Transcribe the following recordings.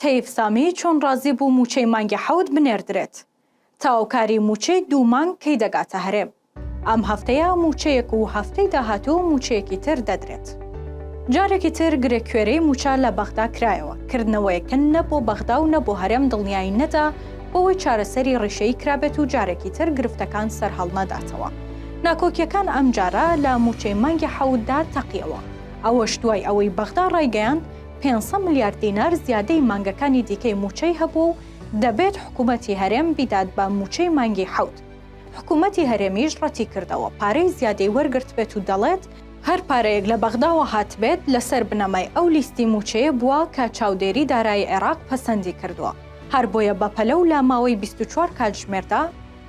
تەیف سامی چۆن ڕازی بوو مووچەی مانگی حەوت بنێردرێت؟ تەواوکاری مووچەی دوو مانگ کەی دەگاتە هەرێم؟ ئەم هەفتەیە مووچەیەک و هەفتەی داهاتوو مووچەیەکی تر دەدرێت. جارێکی تر گرێکوێرەی مووچە لە بەغدا کرایەوە، کردنەوەیەک کە نە بۆ بەغدا و نە بۆ هەرێم دڵنیایی نەدا بەوەی چارەسەری ڕیشەیی کرابێت و جارێکی تر گرفتەکان سەرهەڵنەداتەوە. ناکۆکییەکان ئەمجارە لە مووچەی مانگی حەوتدا تەقییەوە، ئەوەش دوای ئەوەی بەغدا ڕایگەیاند، پێنج سەد ملیار دینار زیادەی مانگەکانی دیکەی مووچەی هەبووە و دەبێت حکوومەتی هەرێم بیدات بە مووچەی مانگی حەوت، حکوومەتی هەرێمیش ڕەتیکردەوە پارەی زیادەی وەرگرتبێت و دەڵێت، هەر پارەیەک لە بەغداوە هاتبێت لەسەر بنەمای ئەو لیستی مووچەیە بووە کە چاودێری دارایی عێراق پەسەندی کردووە، هەر بۆیە بەپەلە و لە ماوەی بیست و چوار کاتژمێردا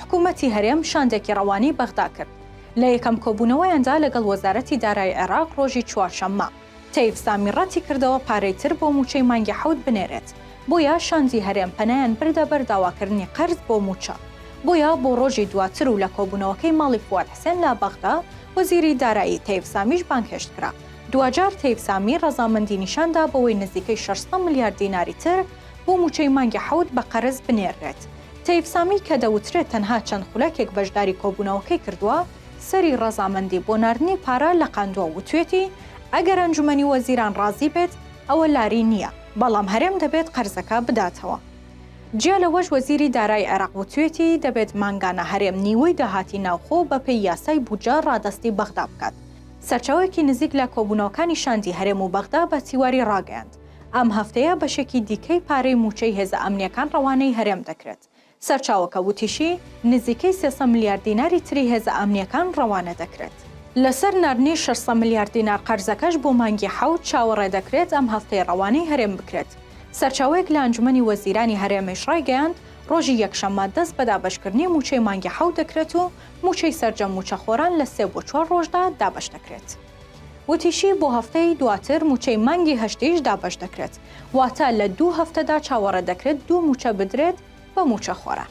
حکوومەتی هەرێم شاندێکی ڕەوانەی بەغدا کرد، لە یەکەم کۆبوونەوەیاندا لەگەڵ وەزارەتی دارایی عێراق ڕۆژی چوارشەممە. تەیف سامی ڕەتی کردەوە پارەی تر بۆ مووچەی مانگی حەوت بنێرێت، بۆیە شاندی هەرێم پەنایان بردە بەر داواکردنی قەرز بۆ مووچە، بۆیە بۆ ڕۆژی دواتر و لە کۆبوونەوەکەی ماڵی فواد حسێن لە بەغدا، وەزیری دارایی تەیف سامیش بانگهێشت کرا، دواجار تەیف سامی ڕەزامەندی نیشان دا بەوەی نزیکەی شەش سەد ملیار دیناری تر بۆ مووچەی مانگی حەوت بە قەرز بنێررێت، تەیف سامی کە دەوترێت تەنها چەند خولەکێک بەشداری کۆبوونەوەکەی کردووە، سەری ڕەزامەندی بۆ ناردنی پارە لەقاندوە وتوێتی ئەگەر ئەنجومەنی وەزیران ڕازی بێت ئەوە لاری نییە بەڵام هەرێم دەبێت قەرزەکە بداتەوە. جیا لەوەش وەزیری دارای عێراق وتوێتی دەبێت مانگانە هەرێم نیوەی داهاتی ناوخۆ بەپێی یاسای بودجە ڕادەستی بەغدا بکات. سەرچاوەیەکی نزیک لە کۆبونەوەکانی شاندی هەرێم و بەغدا بە تیواری ڕاگەیاند ئەم هەفتەیە بەشێکی دیکەی پارەی موچەی هێزە ئەمنیەکان ڕەوانەی هەرێم دەکرێت سەرچاوەکە وتیشی، نزیکەی سێ سەد ملیار دیناری تری هێزە ئەمنییەکان ڕەوانە دەکرێت. لەسەر ناردنی شەش سەد ملیار دینار قەرزەکەش بۆ مانگی حەوت، چاوەڕێ دەکرێت ئەم هەفتەی ڕەوانەی هەرێم بکرێت. سەرچاوەیەک لە ئەنجومەنی وەزیرانی هەرێمیش ڕایگەیاند، ڕۆژی یەکشەممە دەست بە دابەشکردنی مووچەی مانگی حەوت دەکرێت و مووچەی سەرجەم مووچەخۆران لە سێ بۆ چوار ڕۆژدا دابەش دەکرێت. وتیشی، بۆ هەفتەی دواتر مووچەی مانگی هەشتیش دابەش دەکرێت، واتە لە دوو هەفتەدا چاوەڕێ دەکرێت دوو مووچە بدرێت بە مووچەخۆران.